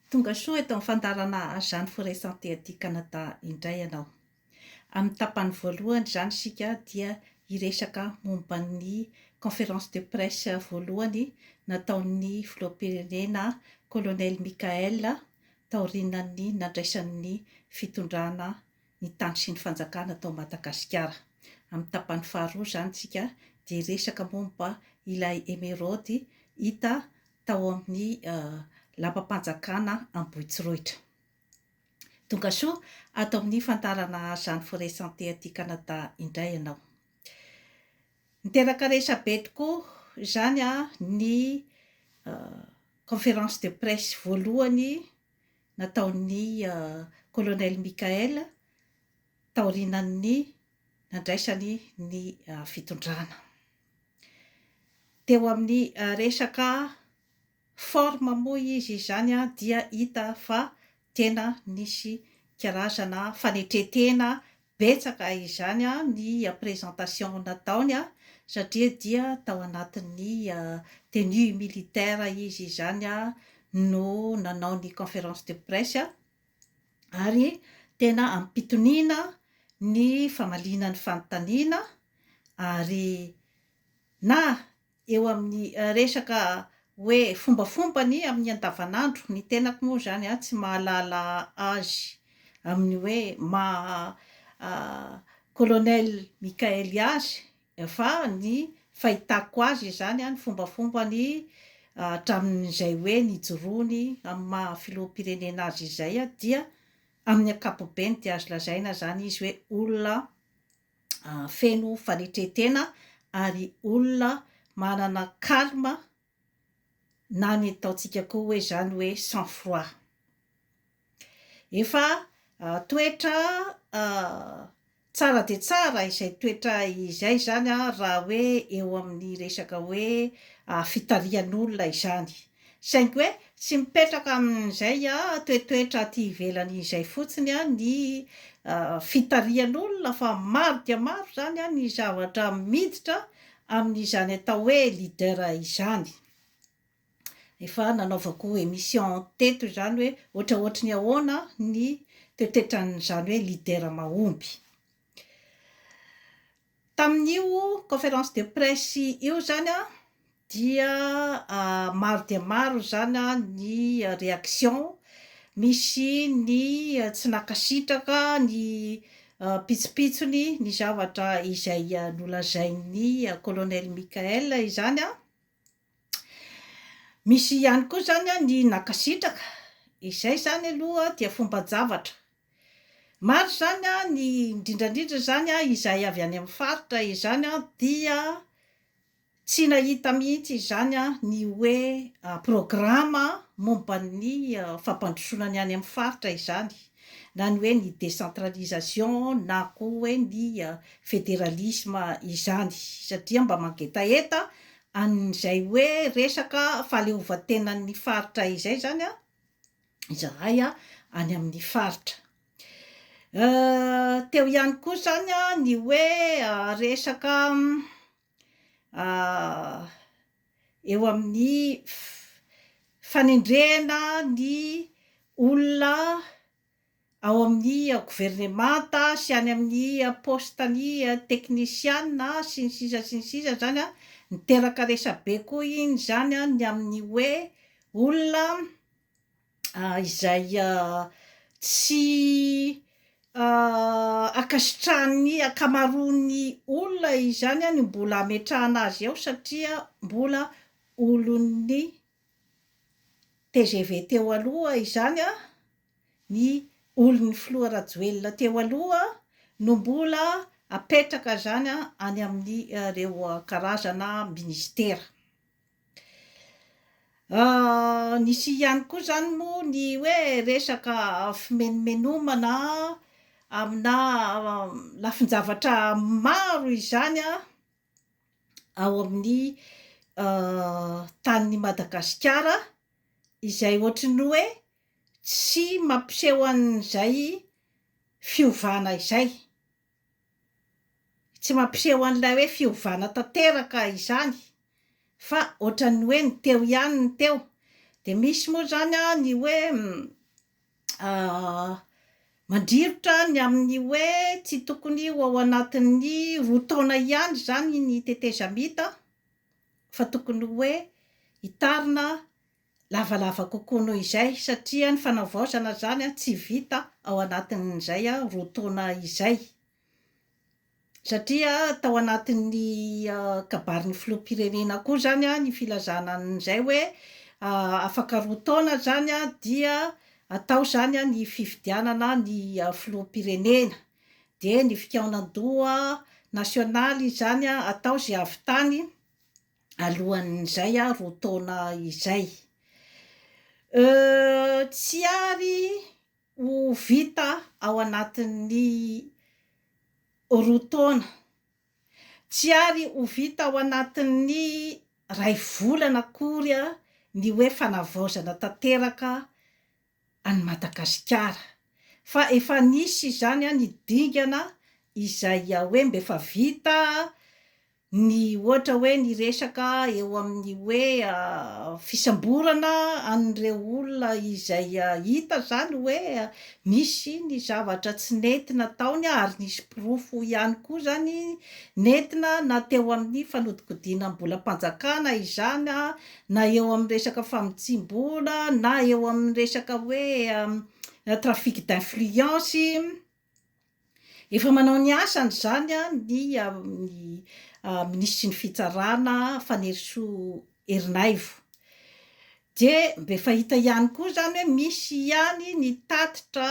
Tonga soa eto amin'ny fandaharana Jeanne Forest Santé aty Canada indray ianao. Amin'ny tapany voalohany izany isika dia hiresaka momba ny conférence de presse voalohany nataon'ny Filoham-pirenena Colonel Mickaël taorianan'ny nandraisany ny fitondrana ny tany sy ny fanjakana tao Madagasikara. Amin'ny tapany faharoa izany isika dia hiresaka momba ilay emeraody hita tao amin'ny lapam-panjakana Ambohitsorohitra. Tongasoa ato amin'ny hifantarana izany Forêt Santé aty Canada indray ianao. Niteraka resabe tokoa izany ny conférence de presse voalohany nataon'ny Colonel Michael taorianan'ny nandraisany ny fitondrana. Teo amin'ny resaka forme moa izy izany dia hita fa tena nisy karazana fanetren-tena Betsaka izany ny presentation nataony satria dia tao anatin'ny tenue militaire izy izany no nanao ny conférence de presse ary tena ampitoniana ny famaliana ny fanontaniana ary na eo amin'ny resaka hoe fombafombany amin'ny andavanandro, ny tenako moa izany an, tsy mahalala azy amin'ny hoe maha Colonel Mickaëly azy, fa ny fahitako azy izany an, ny fombafombany hatramin'izay hoe nijoroany amin'ny maha filoham-pirenena azy izay dia amin'ny ankapobeny dia azo lazaina izany izy hoe olona feno fanetren-tena ary olona manana calme na ny ataontsika koa hoe zany hoe sang froid. Efa toetra tsara dia tsara izay toetra izay zany raha hoe eo amin'ny resaka hoe fitarihan'olona izany. Saingy hoe tsy mipetraka amin'izay toetoetra aty ivelany izay fotsiny ny fitarihan'olona fa maro dia maro izany ny zavatra miditra amin'izany atao hoe leader izany. Efa nanaovako émission teto izany hoe ohatraohatry ny ahoana ny toetoetran'izany hoe leader mahomby. Tamin'io conférence de presse io izany dia maro dia maro izany ny réaction, misy ny tsy nankasitraka ny pitsopitsony ny zavatra izay nolazain'ny Colonel Michaël izany, Misy ihany koa izany a ny nankasitraka, izay izany aloha dia fomban-javatra. Maro izany a ny indrindra indrindra izany a izay avy any amin'ny faritra izany a dia tsy nahita mihitsy izany a ny hoe programa momba ny fampandrosoana ny any amin'ny faritra izany na ny hoe ny décentralisation na koa hoe ny fédéralisme izany satria mba mangetaheta an'izay hoe resaka fahaleovantenan'ny faritra izay izany izahay any amin'ny faritra. Teo ihany koa izany ny hoe resaka eo amin'ny fanendrena ny olona ao amin'ny governemanta sy any amin'ny poste ny teknisiana sy ny sisa sy ny sisa zany an, niteraka resabe koa iny zany an ny amin'ny hoe olona izay tsy ankasitrahan'ny ankamaroan'ny olona izany an ny mbola ametrahana azy eo satria mbola olon'ny tgv teo aloha izany an, ny olon'ny filoha Rajoelina teo aloha no mbola apetraka izany any amin'ireo karazana minisitera. Nisy ihany koa izany moa ny hoe resaka fimenomenomana amina lafin-javatra maro izany ao amin'ny tanin'i Madagasikara izay ohatry ny hoe Tsy mampiseho an'izay fiovana izay. Tsy mampiseho an'ilay hoe fiovana tanteraka izany fa ohatran'ny hoe ny teo ihany ny teo, dia misy moa izany an ny hoe mandrirotra ny amin'ny hoe tsy tokony ho ao anatin'ny roa taona ihany izany ny tetezamita fa tokony hoe hitarina lavalava kokoa noho izay satria ny fanavaozana izany tsy vita ao anatin'izay roa taona izay satria tao anatin'ny kabarin'ny filoham-pirenena koa izany ny filazana an'izay hoe afaka roa taona izany dia atao izany ny fifidianana ny filoham-pirenena dia ny fikaonan-doha nasionaly izany atao izay avy tany alohan'izay a roa taona izay. Euh, tsy ary ho vita ao anatin'ny roa taona, tsy ary ho vita ao anatin'ny ray volana akory ny hoe fanavaozana tanteraka an'i Madagasikara fa efa nisy izany ny dingana izay hoe mba efa vita ny ohatra hoe ny resaka eo amin'ny hoe fisamborana an'ireo olona izay hita izany hoe misy ny zavatra tsy nety nataony ary nisy porofo ihany koa izany nentina na teo amin'ny fanodikodinam-bolam-panjakana izany na eo amin'ny resaka famotsiam-bola, na eo amin'ny resaka hoe trafic d'influence, efa manao ny asany izany ny ny minisitry ny fitsarana Fanirisoa Ernaivo, dia mba efa hita ihany koa izany hoe misy ihany ny tatitra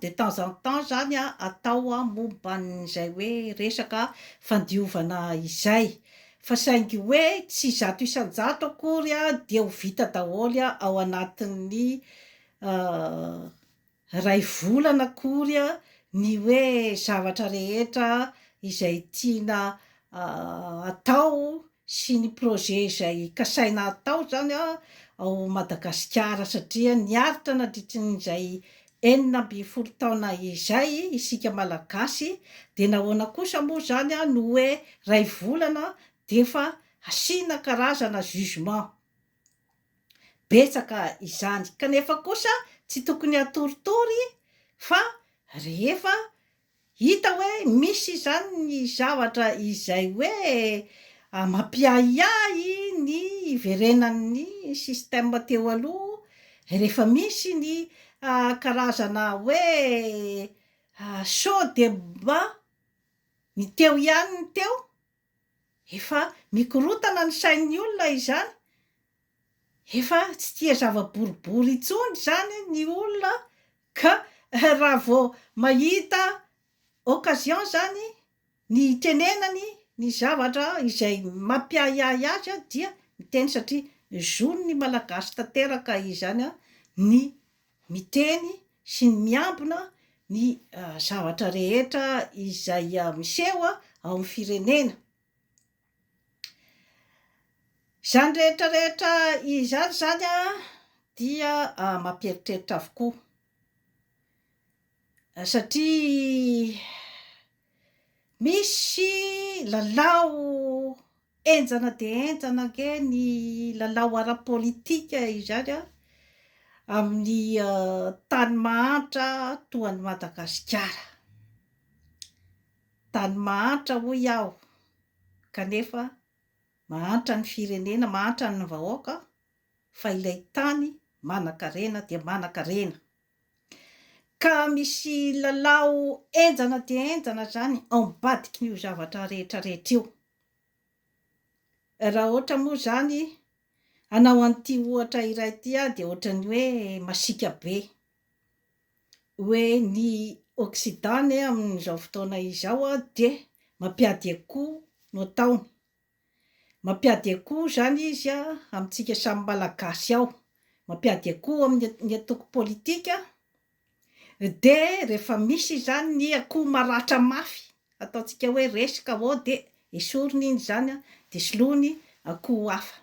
de temps en temps izany atao momba an'izay hoe resaka fandiovana izay, Fa saingy hoe tsy zato isan-jato akory dia ho vita daholo ao anatin'ny iray volana akory ny hoe zavatra rehetra izay tiana atao sy ny projet izay kasaina atao izany ao Madagasikara satria niaritra nandritrin'izay Enina ambin'ny folo taona izay isika Malagasy dia nahoana kosa moa izany no hoe iray volana dia efa asiana karazana jugement? Betsaka izany kanefa kosa tsy tokony hatoritory fa rehefa Hita hoe misy izany ny zavatra izay hoe mampiahiahy ny hiverenan'ny système teo aloha rehefa misy ny karazana hoe show débat ny teo ihany ny teo Efa mikorotana ny sain'ny olona izany, efa tsy tia zava-boribory intsony izany ny olona ka raha vao mahita occasion izany ny hitenenany ny zavatra izay mampiahiahy azy dia miteny satria zon'ny Malagasy tanteraka izany ny miteny sy ny miambina ny zavatra rehetra izay miseho ao amin'ny firenena. Izany rehetra rehetra izany izany dia mampieritreritra avokoa satria misy lalao Henjana dia henjana ange ny lalao ara-politika izany an, amin'ny tany mahantra toa an'i Madagasikara. Tany mahantra hoy aho kanefa mahantra ny firenena, mahantra ny vahoaka fa ilay tany manankarena dia manankarena. Ka misy lalao henjana dia henjana izany ao ambadikin'io zavatra rehetra rehetra io. Raha ohatra moa izany hanao an'ity ohatra iray ity aho dia ohatran'ny hoe masiaka be. Hoe ny occident anie amin'izao fotoana izao dia mampiady akoho no ataony. Mampiady akoho izany izy amintsika samy malagasy ao. Mampiady akoho amin'ny antoko politika Dia rehefa misy izany ny akoho maratra mafy, ataontsika hoe reska ô, dia esoriny iny izany an, dia soloiny akoho hafa.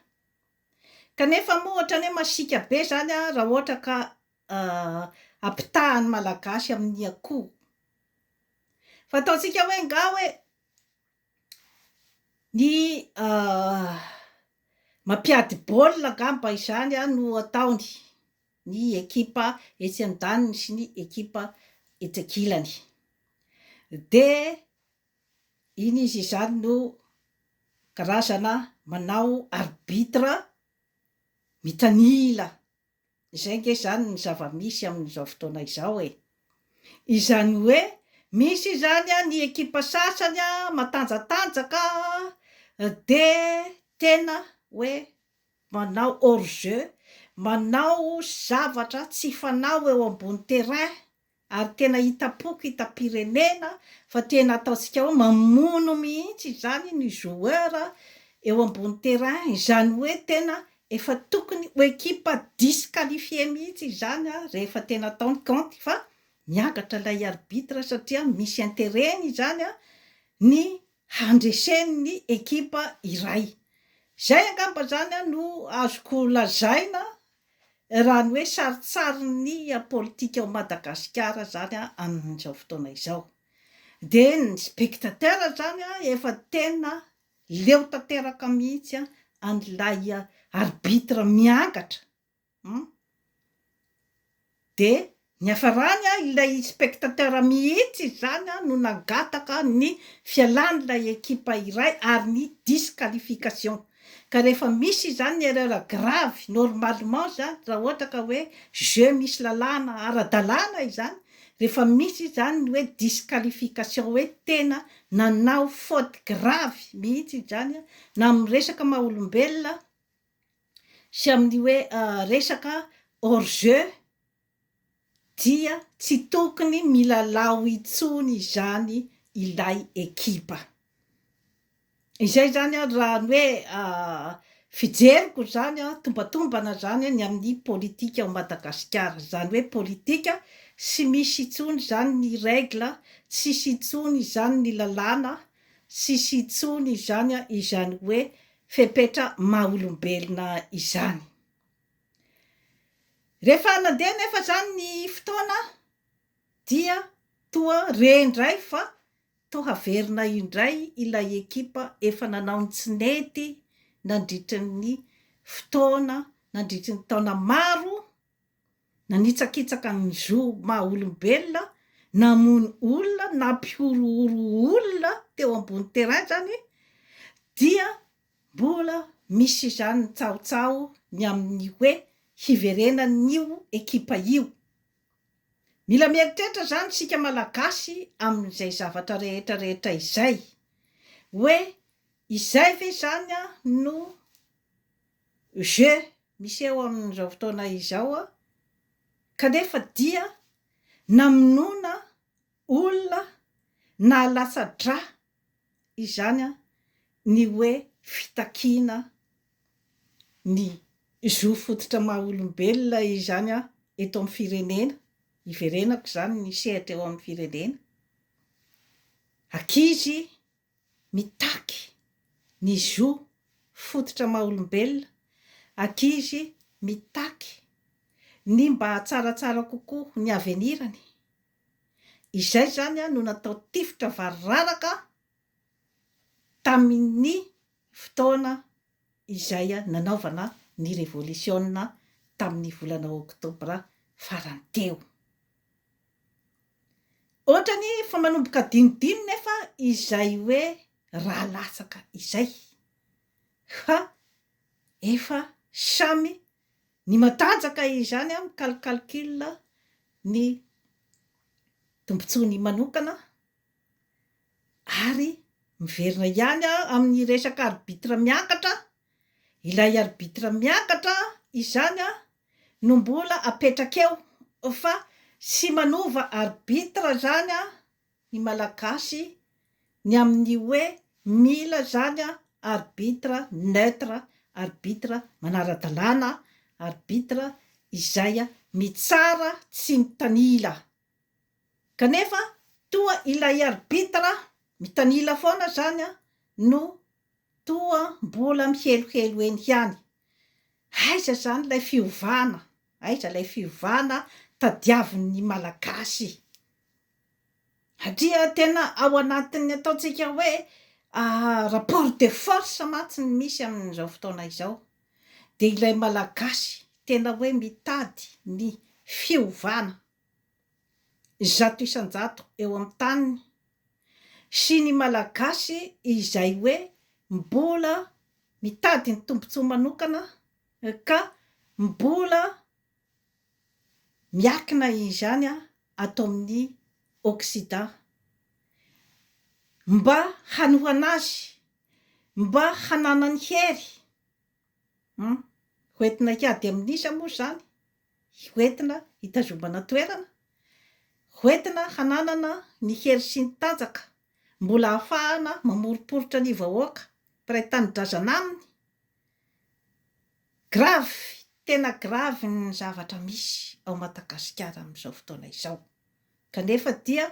Kanefa moa ohatran'ny hoe masiaka be izany an, raha ohatra ka ampitahan'ny Malagasy amin'ny akoho. Fa ataontsika hoe angaha hoe ny mampiady baolina angamba izany an no ataony. ny ekipa etsy andaniny sy ny ekipa etsy ankilany dia iny izy izany no karazana manao arbitre mitanila, izay nge izany ny zava-misy amin'izao fotoana izao e! izany hoe misy izany an ny ekipa sasany an matanjatanjaka dia tena hoe manao hors jeu, manao zavatra tsy fanao eo ambony terrain ary tena hitam-poko hitam-pirenena fa tena ataontsika hoe mamono mihitsy izany ny joueur eo ambony terrain, izany hoe tena efa tokony ho ekipa disqualifier mihitsy izany rehefa tena atao ny kaonty fa miangatra ilay arbitre satria misy interet-ny izany ny handresen'ny ekipa iray. Izay angamba izany no azoko lazaina raha ny hoe sarintsarin'ny politika ao Madagasikara izany amin'izao fotoana izao. Dia ny spectateurs izany efa tena leo tanteraka mihitsy an'ilay arbitre miangatra. Hum. Dia niafarany an, ilay spectateur mihitsy izany an no nangataka ny fialan'ilay ekipa iray ary ny disqualification. Ka rehefa misy izany erreur grave, normalement izany raha ohatra ka hoe jeu misy lalàna ara-dalàna izany, rehefa misy izany ny hoe disqualification hoe tena nanao faute grave mihitsy izany an, na amin'ny resaka maha-olombelona, sy amin'ny hoe resaka hors jeu dia tsy tokony milalao intsony izany ilay ekipa. Izay izany ary raha ny hoe fijeriko izany tombatombana izany ny amin'ny politika ao Madagasikara. Izany hoe politika tsy misy intsony izany ny règle, tsy misy intsony izany ny lalàna, tsy misy intsony izany izany hoe fepetra maha olombelona izany. Rehefa nandeha anefa izany ny fotoana dia toa re indray fa toa haverina indray ilay ekipa efa nanao ny tsy nety nandritry ny fotoana, nandritry ny taona maro. nanitsakitsaka ny zo maha olombelona, namono olona, nampihorohoro olona teo ambony terrain zany dia mbola misy izany ny tsahotsaho ny amin'ny hoe hiverenan'io ekipa io. Mila mieritreritra zany isika malagasy amin'izay zavatra rehetra rehetra izay hoe izay ve zany no Jeux miseho amin'izao fotoana izao kanefa dia namonoana olona nahalatsa-drà izany ny hoe fitakiana ny zo fototra maha olombelona izany eto amin'ny firenena, iverenako izany ny sehatra eo amin'ny firenena, ankizy, mitaky ny zo fototra maha-olombelona, ankizy mitaky ny mba hatsaratsara kokoa ny avenirany. Izay izany no natao tifitra variraraka tamin'ny fotoana izay nanaovana ny revolisiona tamin'ny volana oktobra farany teo. Ohatrany fa manomboka dinidiny nefa izay hoe raha latsaka izay fa efa samy ny matanjaka izany an mical calcul ny tombotsoany manokana ary miverina ihany an amin'ny resaka arbitre miakatra ilay arbitre miakatra izany an no mbola apetraka eo fa tsy manova arbitre zany an ny malagasy ny amin'ny hoe mila zany an arbitre neutre, arbitre manara-dalàna, arbitre izay an mitsara tsy mitanila kanefa toa ilay arbitre mitanila foana zany an no toa mbola mihelohelo eny ihany. Aiza izany ilay fiovana? Aiza ilay fiovana tadiavin'ny Malagasy? Satria tena ao anatin'ny ataontsika hoe rapport de force mantsy ny misy amin'izao fotoana izao. Dia ilay Malagasy tena hoe mitady ny fiovana. zato isan-jato eo amin'ny taniny sy ny Malagasy izay hoe mbola mitady ny tombontsoa manokana ka mbola miakina izany ato amin'ny Occident mba hanohana azy, mba hananany hery. Hum. Hoentina hiady amin'iza moa izany? Hoentina hitazomana toerana? Hoentina hananana ny hery sy ny tanjaka mbola ahafahana mamoriporitra ny vahoaka mpiray tanindrazana aminy? Grave, tena grave ny zavatra misy ao Madagasikara amin'izao fotoana izao. Kanefa dia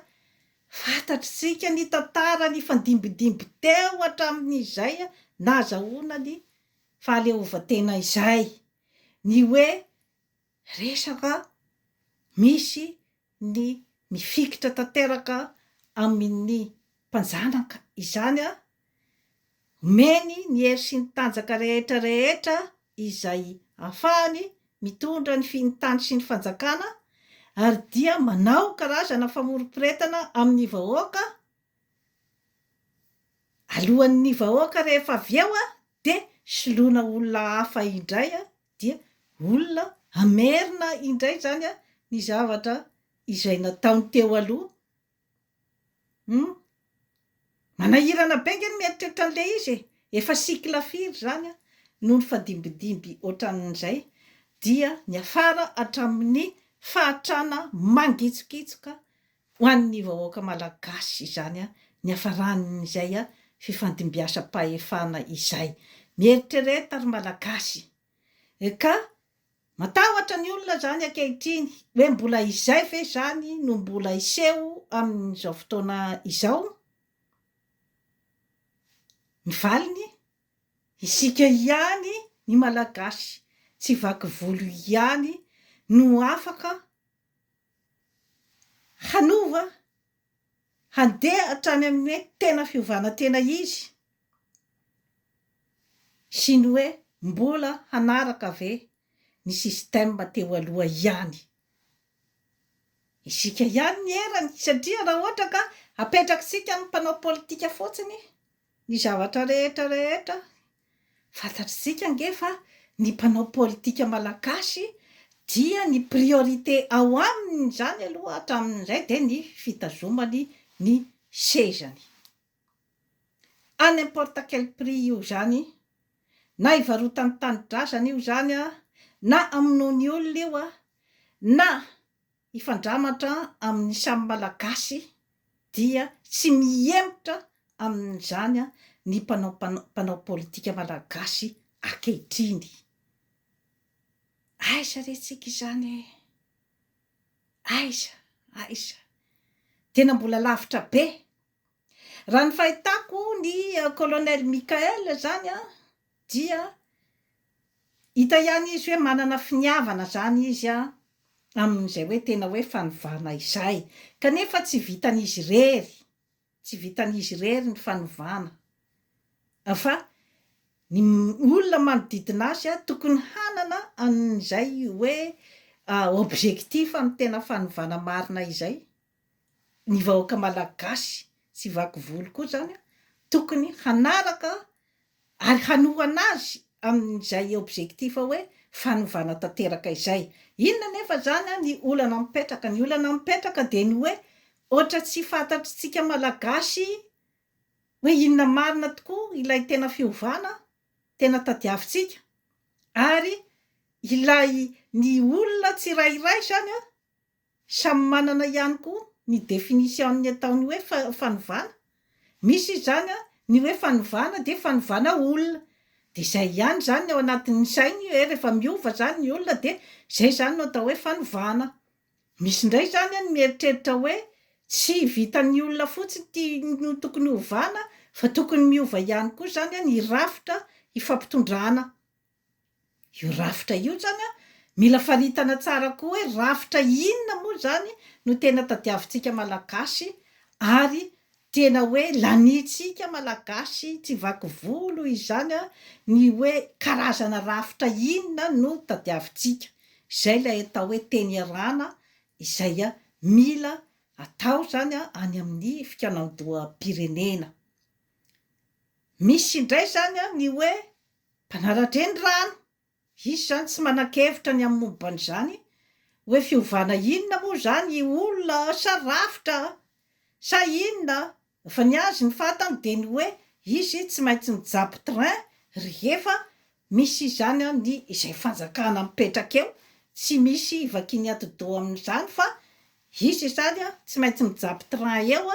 fantatr'isika ny tantara nifandimbidimby teo hatramin'izay nahazahoana ny fahaleovantena izay, ny hoe resaka misy ny mifikitra tanteraka amin'ny mpanjanaka izany Omeny ny hery sy ny tanjaka rehetra rehetra izay ahafahany mitondra ny finy tany sy ny fanjakana ary dia manao karazana famorom-piretana amin'ny vahoaka alohan'ny vahoaka rehefa avy eo dia soloina olona hafa indray dia olona hamerina indray izany ny zavatra izay nataony teo aloha Humm. Manahirana be ange ny mieritreritra an'ilay izy e! Efa cycle firy izany an, no nifadimbidimby ohatran'izay dia niafara hatramin'ny fahatrana mangitsokitsoka ho an'ny vahoaka malagasy izany an, niafaran'izay fifandimbiasam-pahefana izay. Mieritrereta ry Malagasy. Eka! Matahotra ny olona izany ankehitriny, hoe mbola izay ve izany no mbola hiseho amin'izao fotoana izao? Ny valiny, isika ihany ny Malagasy tsy vaky volo ihany no afaka hanova Handeha hatrany amin'ny hoe tena fiovana tena izy sy ny hoe mbola hanaraka ve ny système teo aloha ihany isika ihany ny erany satria raha ohatra ka apetrakitsika amin'ny mpanao politika fotsiny ny zavatra rehetra rehetra Fantatr'isika ange fa ny mpanao politika malagasy dia ny priorité ao aminy izany aloha hatramin'izay dia ny fitazomany ny sezany. À n'importe quel prix io izany, na ivarotany tanindrazana io izany, na amonoany olona io, na. hifandramatra amin'ny samy Malagasy dia tsy mihemotra amin'izany ny mpanao mpanao politika Malagasy ankehitriny. Aiza re tsika izany e! Aiza, aiza. Tena mbola lavitra be. Raha ny fahitako ny Colonel Michael izany an, dia hita ihany izy hoe manana finiavana izany izy an, amin'izay hoe tena hoe fanovana izay. Kanefa tsy vitan'izy irery, tsy vitan'izy irery ny fanovana, fa ny olona manodidina azy an, tokony hanana an'izay hoe objectif amin'ny tena fanovana marina izay. ny vahoaka malagasy tsy vaky volo koa izany tokony hanaraka ary hanohana azy amin'izay objectif hoe fanovana tanteraka izay. Inona anefa izany ny olana mipetraka? Ny olana mipetraka dia ny hoe ohatra tsy fantatr'tsika malagasy hoe inona marina tokoa ilay tena fiovana tena tadiavintsika ary ilay ny olona tsirairay izany Samy manana ihany koa ny definition-ny ataony hoe fanovana. Misy izy izany an, ny hoe fanovana dia fanovana olona. Dia izay ihany izany ny ao anatin'ny sainy hoe rehefa miova izany ny olona dia izay izany no atao hoe fanovana. Misy indray izany an ny mieritreritra hoe tsy vitan'ny olona fotsiny ity no tokony hovana fa tokony miova ihany koa izany an ny rafitra ifampitondrana. Io rafitra io zany an, mila faritana tsara koa hoe rafitra inona moa zany no tena tadiavintsika malagasy ary tena hoe lanintsika malagasy tsy vaky volo izany an, ny hoe karazana rafitra inona no tadiavintsika. Izay ilay atao hoe teny iarahana izay mila atao zany an any amin'ny fikaonandoham-pirenena. Misy indray zany an ny hoe Mpanaratra eny ra any, hisy izany tsy manan-kevitra ny amin'ny momban'izany hoe fiovana inona moa izany io olona a, sa rafitra a, sa inona a, fa ny azy ny fantany dia ny hoe izy tsy maintsy mijapy train rehefa misy izany a, ny izay fanjakana mipetraka eo tsy misy ivakian'ny atidoha amin'izany fa Hisy izany tsy maintsy mijapy train eo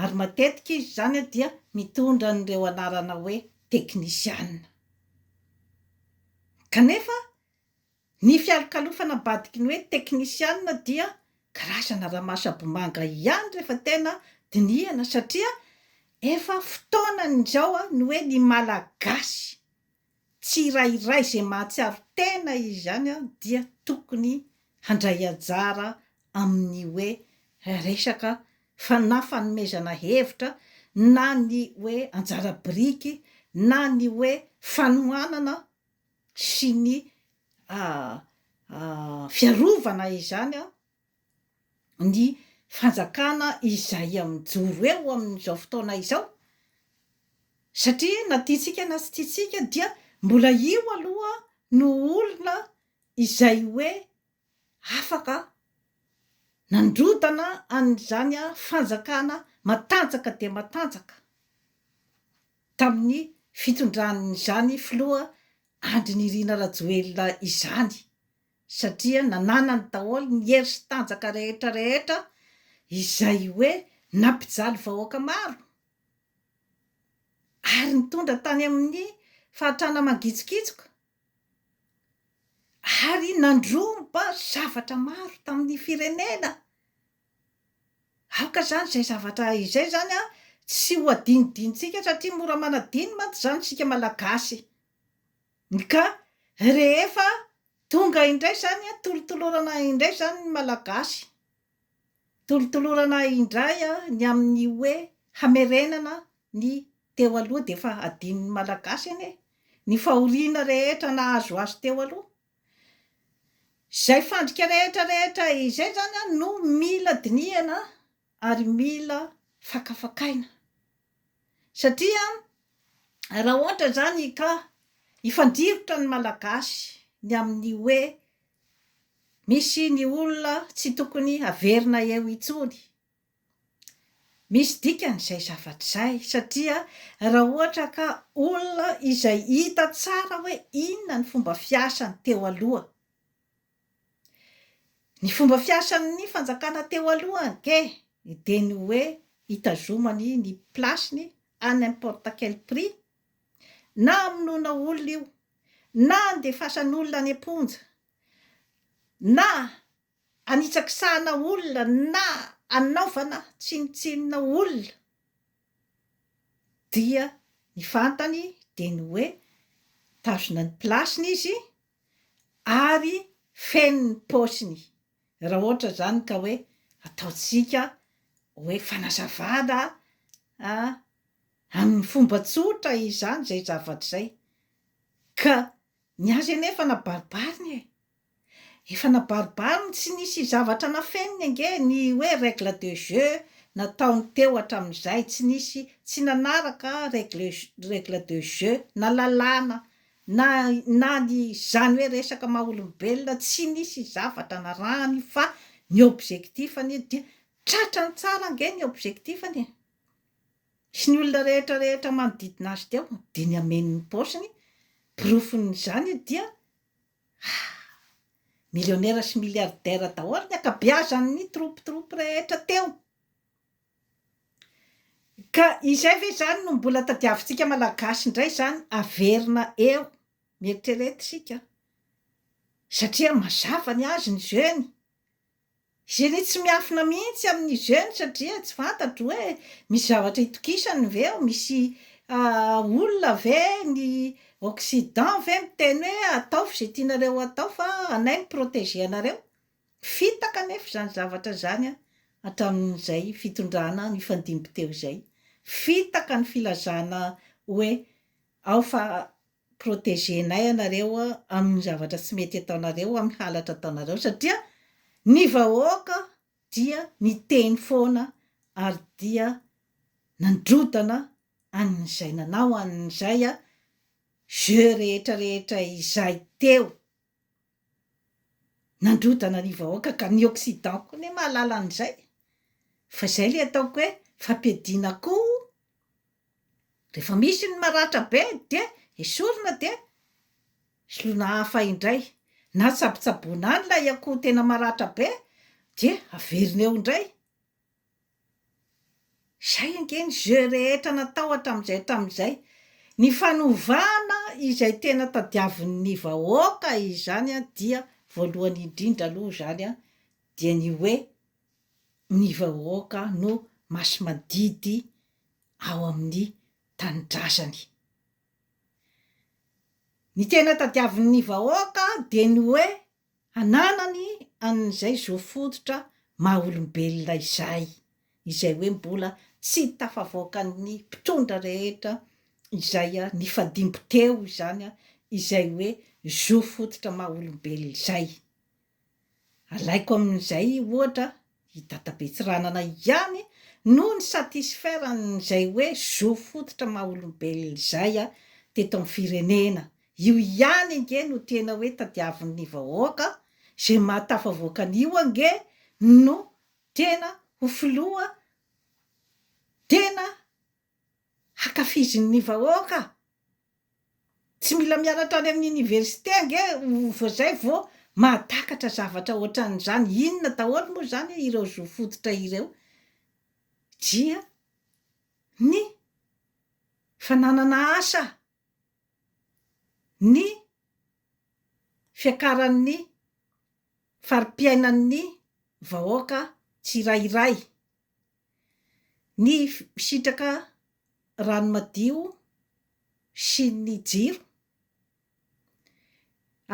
ary matetika izy izany dia mitondra an'ireo anarana hoe teknisiana. Kanefa ny fialokalofana ambadiky ny hoe teknisiana dia karazana ramasabomanga ihany rehefa tena dinihana satria efa fotoanan'izao ny hoe ny Malagasy. tsirairay izay mahatsiaro tena izy ihany dia tokony handray anjara amin'ny hoe resaka fa na fanomezana hevitra na ny hoe anjara biriky na ny hoe fanohanana sy ny fiarovana izany ny fanjakana izay mijoro eo amin'izao fotoana izao satria na tiantsika na tsy tiantsika dia mbola io aloha no olona izay hoe afaka nandrodana an'izany fanjakana matanjaka dia matanjaka tamin'ny fitondran'izany filoha Andry Nirina Rajoelina izany. satria nananany daholo ny hery sy tanjaka rehetra rehetra izay hoe nampijaly vahoaka maro ary nitondra tany amin'ny fahatrana mangitsokitsoka ary nandromba zavatra maro tamin'ny firenena aoka izany izay zavatra izay izany an tsy ho adinodinintsika satria mora manadino mantsy izany isika malagasy Ka rehefa tonga indray izany an, tolotolorana indray izany ny Malagasy, tolotolorana indray ny amin'ny hoe hamerenana ny teo aloha dia efa adinon'ny Malagasy anie ny fahoriana rehetra nahazo azy teo aloha. Izay fandrika rehetra rehetra izay izany an no mila dinihana ary mila fakafakaina satria raha ohatra zany ka hifandirotra ny malagasy ny amin'ny hoe misy ny olona tsy tokony haverina eo intsony misy dikany izay zavatra izay satria raha ohatra ka olona izay hita tsara hoe inona ny fomba fiasany teo aloha Ny fomba fiasan'ny fanjakana teo aloha ange dia ny hoe hitazomany ny place-ny à n'importe quel prix, na hamonoana olona io, na handefasana olona any am-ponja, na hanitsakisahana olona, na hanaovana tsinontsinona olona, dia ny fantany dia ny hoe tazona ny place-ny izy, ary feno ny paosiny raha ohatra zany ka hoe ataontsika hoe fanazavana a amin'ny fomba tsotra izany zay zavatra zay ka ny azy anie efa nabaribariny e, efa nabaribariny tsy nisy zavatra nafeniny ange ny hoe règle de jeu nataony teo hatramin'izay tsy nisy tsy nanaraka règle règle de jeu na lalàna Na na ny zany hoe resaka maha olombelona tsy nisy zavatra narahany fa ny objectif-ny io dia tratrany tsara ange ny objectif-ny e! sy ny olona rehetra rehetra manodidina azy teo dia ny hameno ny paosiny, porofon'izany io dia ah! millionnaire sy milliardaire daholo ny ankabeazan'ny troupe troupe rehetra teo. Ka izay ve izany no mbola tadiavintsika Malagasy indray izany haverina eo? Mieritrereta isika satria mazava ny azy ny jeune, zeny tsy miafina mihitsy amin'ny jeune satria tsy fantatro hoe misy zavatra itokisany ve eo, misy olona ve ny occident ve miteny hoe ataovy izay tianareo atao fa anay mi-proteger anareo? Fitaka anefa izany zavatra izany hatramin'izay fitondrana nifandimby teo izay. Fitaka ny filazana hoe ao fa protegenay ianareo amin'ny zavatra tsy mety ataonareo, amin'ny halatra ataonareo satria ny vahoaka dia niteny foana ary dia nandrodana an'izay nanao an'izay jeu rehetra rehetra izay teo. nandrodana ny vahoaka ka ny occident koa anie mahalala an'izay fa izay ilay ataoko hoe fampiadiana koa rehefa misy ny maratra be dia esorina dia soloina hafa indray na tsabotsaboina any ilay akoho tena maratra be dia averina eo indray Izay ange ny jeu rehetra natao hatramin'izay hatramin'izay. Ny fanovana izay tena tadiavin'ny vahoaka izany dia voalohany indrindra aloha izany dia ny hoe ny vahoaka no masimandidy ao amin'ny tanindrazany. Ny tena tadiavin'ny vahoaka dia ny hoe Ananany an'izay zo fototra maha olombelona izay, izay hoe mbola tsy tafavoakan'ny mpitondra rehetra izay nifadimby teo izany izay hoe zo fototra maha olombelona izay. Alaiko amin'izay ohatra I Dada Betsiranana ihany no ni satisfaire an'izay hoe zo fototra maha olombelona izay teto amin'ny firenena. Io ihany ange no tena hoe tadiavin'ny vahoaka, izay maha tafavoaka an'io ange no tena ho filoha tena hankafizin'ny vahoaka? Tsy mila mianatra any amin'ny oniversite ange vao izay vao mahatakatra zavatra ohatran'izany. Inona daholo moa izany ireo zo fototra ireo? Dia ny fananana asa, ny fiakaran'ny fari-piainan'ny vahoaka tsirairay. Ny misitraka rano madio sy ny jiro.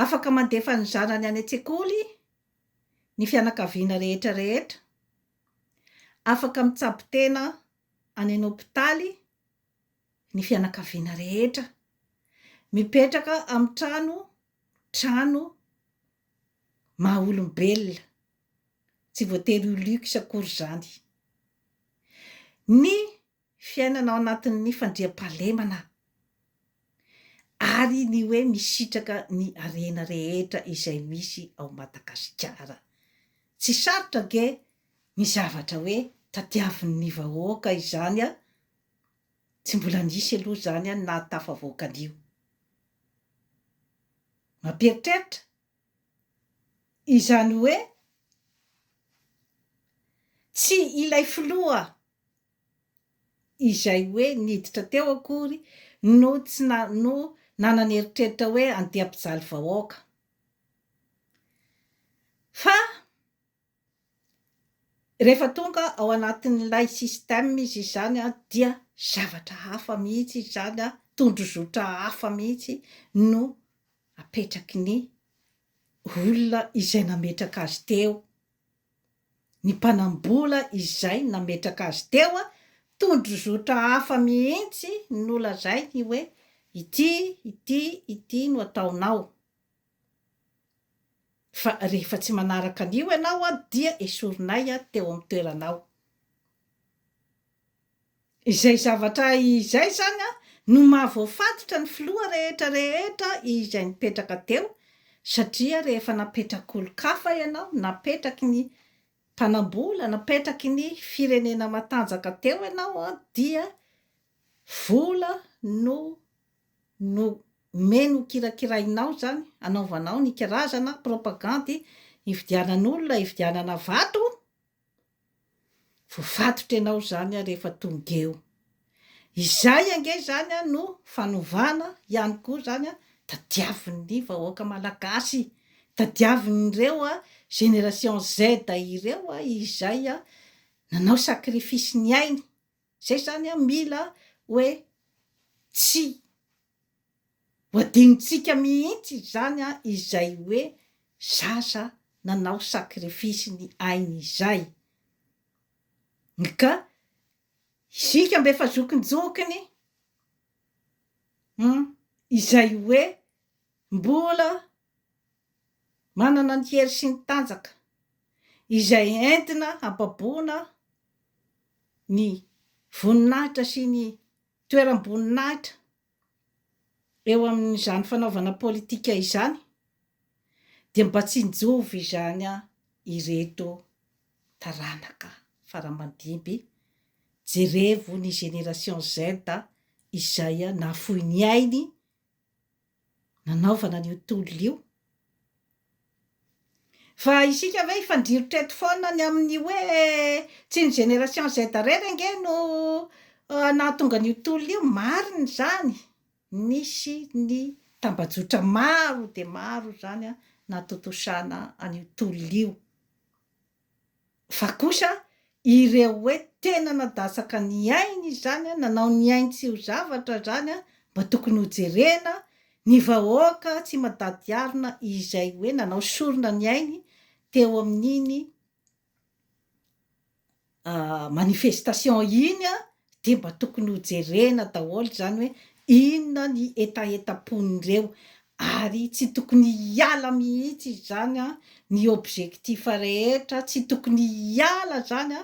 Afaka mandefa ny zanany any an-tsekoly ny fianakaviana rehetra rehetra. Afaka mitsabo tena any an-hopitaly ny fianakaviana rehetra. Mipetraka amin'ny trano trano maha-olombelona. Tsy voatery ho luxe akory izany. Ny fiainana ao anatin'ny fandriampahalemana ary ny hoe misitraka ny harena rehetra izay misy ao Madagasikara. Tsy sarotra ange ny zavatra hoe tadiavin'ny vahoaka izany an! Tsy mbola nisy aloha izany an ny nahatafavoaka an'io. Mampieritreritra? Izany hoe, tsy ilay filoha izay hoe niditra teo akory no tsy na no nanana eritreritra hoe andeha hampijaly vahoaka, fa. Rehefa tonga ao anatin'ilay système izy izany dia zavatra hafa mihitsy izy izany, tondrozotra hafa mihitsy no apetraky ny olona izay nametraka azy teo, ny mpanam-bola izay nametraka azy teo, tondrozotra hafa mihitsy no lazainy hoe ity, ity, ity no ataonao. Fa rehefa tsy manaraka an'io ianao dia esorinay teo amin'ny toeranao. Izay zavatra izay izany no maha voafatotra ny filoha rehetra rehetra izay nipetraka teo satria rehefa napetrak'olon-kafa ianao, napetraky ny mpanambola, napetraky ny firenena matanjaka teo ianao dia vola no. no omeny ho kirakirainao izany, anaovanao ny karazana propagandy hividianan'olona, hividianana vato, voafatotra ianao izany rehefa tonga eo. Izay ange izany no fanovana ihany koa izany tadiavin'ny vahoaka malagasy, tadiavin'ireo génération Z ireo izay nanao sacrifice ny ainy, Zay zany an mila hoe tsy ho adinontsika mihitsy izany an izay hoe zaza nanao sacrifice ny ainy izay nka isika mba efa zokinjokiny humm izay hoe mbola Manana ny hery sy ny tanjaka izay entina hababoana ny voninahitra sy ny toeram-boninahitra eo amin'izany fanaovana politika izany dia mba tsinjovy izany ireto taranaka faramandimby, jerevo ny génération Z izay nahafoy ny ainy nanaovana an'io tolona io. Fa isika ve hifandrirotra eto foana any amin'ny hoe tsy ny génération Z irery ange no nahatonga an'io tolona io? Marina izany, nisy ny tambajotra maro dia maro izany natontosana an'io tolona io. Fa kosa ireo hoe tena nadasaka ny ainy izany, nanao ny ainy tsy ho zavatra izany mba tokony ho jerena, ny vahoaka tsy madady arina izay hoe nanao sorona ny ainy teo amin'iny manifestation iny Dia mba tokony ho jerena daholo izany hoe inona ny hetahetam-pon'ireo ary tsy tokony hiala mihitsy izy izany ny objectif rehetra, tsy tokony hiala izany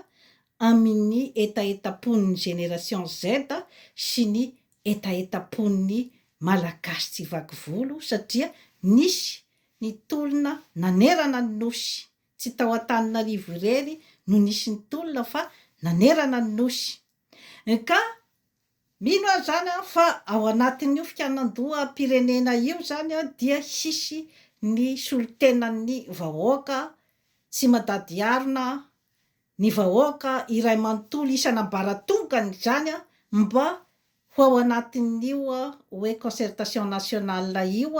amin'ny hetahetam-pon'ny génération Z sy ny hetahetam-pon'ny Malagasy tsy vaky volo satria nisy ny tolona nanerana ny Nosy Tsy tao Antananarivo irery no nisy ny tolona fa nanerana ny Nosy. Ka mino aho izany fa ao anatin'io fikanan-doham-pirenena io izany dia hisy ny solontenan'ny vahoaka tsy mandady harona, ny vahoaka iray manontolo isan'ambaratongany izany mba ho ao anatin'io hoe concertation nationale io.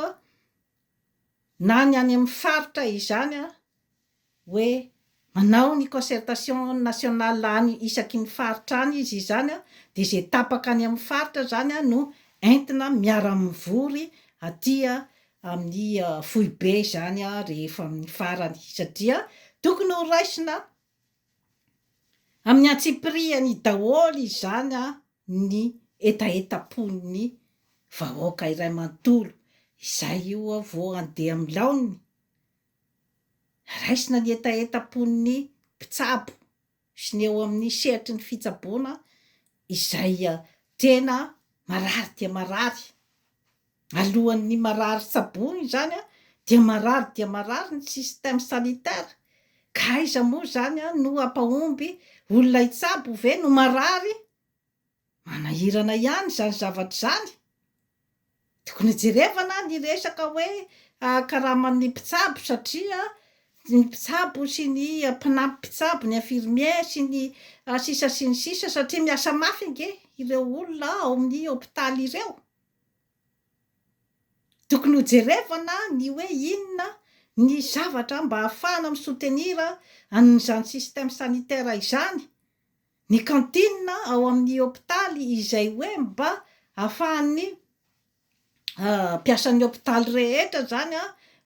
na ny any amin'ny faritra izany a, hoe manao ny concertation nationale any isaky ny faritra any izy izany a, dia izay tapaka any amin'ny faritra izany a no entina miara-mivory aty amin'ny foibe izany a rehefa amin'ny farany, satria tokony ho raisina amin'ny antsipirihany daholo izany a. ny hetahetam-pon'ny vahoaka iray manontolo izay io aho vao handeha amin'ny laoniny? Raisina ny hetahetam-pon'ny mpitsabo sy ny eo amin'ny sehatry ny fitsaboana izay tena marary dia marary. Alohan'ny marary tsaboina izany dia marary dia marary ny système sanitaire ka aiza moa izany no hampahomby olona hitsabo ve no marary? Manahirana ihany izany zavatra izany. Tokony hojerevana ny resaka hoe karaman'ny mpitsabo satria ny mpitsabo sy ny mpanampy mpitsabo, ny infirmiers sy ny sisa sy ny sisa satria miasa mafy ange ireo olona ao amin'ny hopitaly ireo. Tokony hojerevana ny hoe inona ny zavatra mba ahafahana mi soutenir an'izany système sanitaire izany, ny cantine ao amin'ny hopitaly izay hoe mba ahafahan'ny mpiasan'ny hopitaly rehetra izany